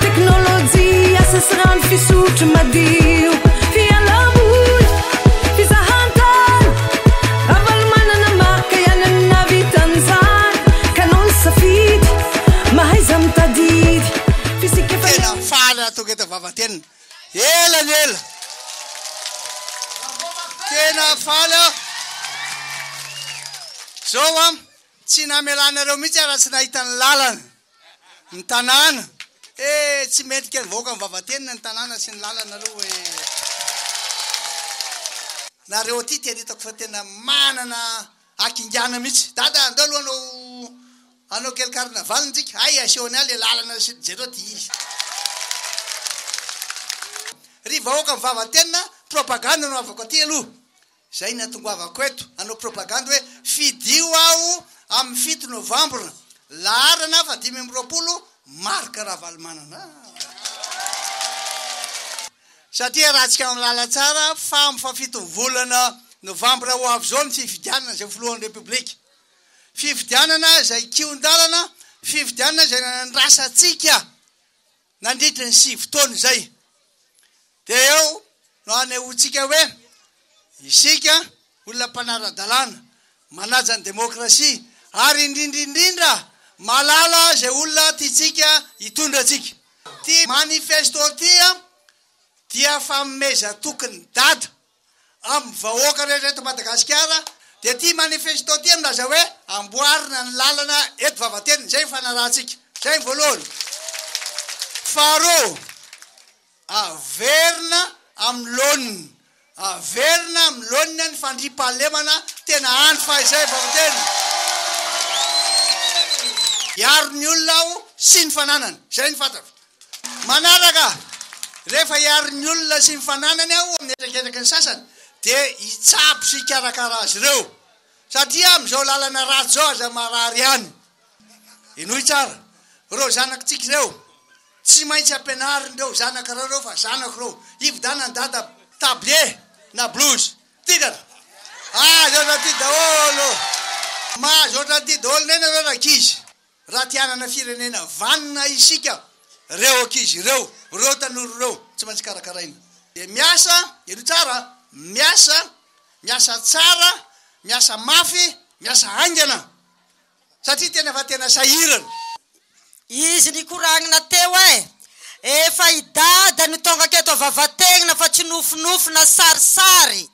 Teknolojia, sesirano, fisotro madio, fialaboly, fizahantany, Ravalomanana marika ihany no nahavitan'izany ka noho ny safidy, mahaiza mitadidy, fisiaka efa Tena faly aho tonga eto Vavatenina. Ela ny ela. Tena faly aho. Zao an, tsy namelanareo mihitsy aho raha tsy nahita ny lalana. ny tanàna eh! tsy mendrika ny vahoaka mivavatenina ny tanàna sy ny lalana aloha hoe nareo aty tena hitako fa tena manana hakingana mihitsy dada andao aloha anao anao kely carnaval ntsika hay asehony ahy le lalana sy jereo ty izy ry vahoaka mivavatenina propagande no avako aty aloha Izay ny atongoavako eto hanao propagandy hoe fidio aho amin'ny fito novambra. Laharana fa dimy amby roapolo, Marc Ravalomanana. Satria raha antsika mahalala tsara fa amin'ny fahafitony volana novambra ho avy izao ny fifidianana izay ho filohan'ny Repoblika. Fifidianana izay kihon-dalana, fifidianana izay nanandrasa antsika Nandritry ny sivy taona izay, dia eo no hanehoantsika hoe isika olona mpanara-dalàna, manaja ny demokrasia ary indrindra indrindra mahalala izay olona tiantsika hitondra antsika. Ity manifesto ity dia fanomezan-toky ny dada. amin'ny vahoaka rehetra eto Madagasikara dia ity manifesto ity milaza hoe amboarina ny lalana eto Vavateny, izay ny fanarahantsika. Izay ny voalohany. Faharoa, averina amin'ny laoniny, averina amin'ny laoniny ny fandriampahalemana tena andry fahizay Vavateny. Hiaro ny olona aho sy ny fananany. Izay ny fantatro. Manaraka, rehefa hiaro ny olona sy ny fananany aho amin'ny hetraketraky ny sasany dia hitsabo sy hikarakara azy ireo satria amin'izao lalana ratsy izao aza marary ihany. Henoy tsara, ireo zanakitsika ireo, tsy maintsy ampianarin'ireo zanakareo ireo fa zanako ireo, hividanan'i dada tablier na blouse. Titraka! Mahazo ohatran'ity daholo, mahazo ohatran'ity daholo ny aina ireo rankizy. Raha te hanana firenena vanona isika, reo ankizy ireo, reo tanora reo tsy maintsy karakaraina. Dia miasa, heno tsara a, miasa, miasa tsara, miasa mafy, miasa haingana satria tena fa tena sahirana. Izy nikoragnina teo eh! Efa i Dada no tongaka eto vavategnina fa tsy nofinofy na sarisary.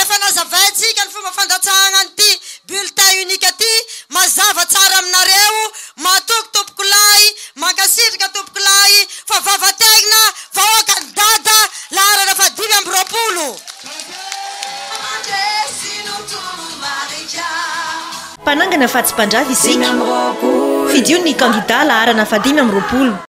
Efa nazavaintsika ny fomba fandatsahagna an'ity bulletin unique ty, mazava tsara aminareo, matoky tompokolahy, mankasitraka tompokolahy, fa vavategna vahoakan'i dada, laharana faha dimy amby roapolo. Mpanangana fa tsy mpandrava isika. Fidio ny kandida laharana fahadimy amby roapolo.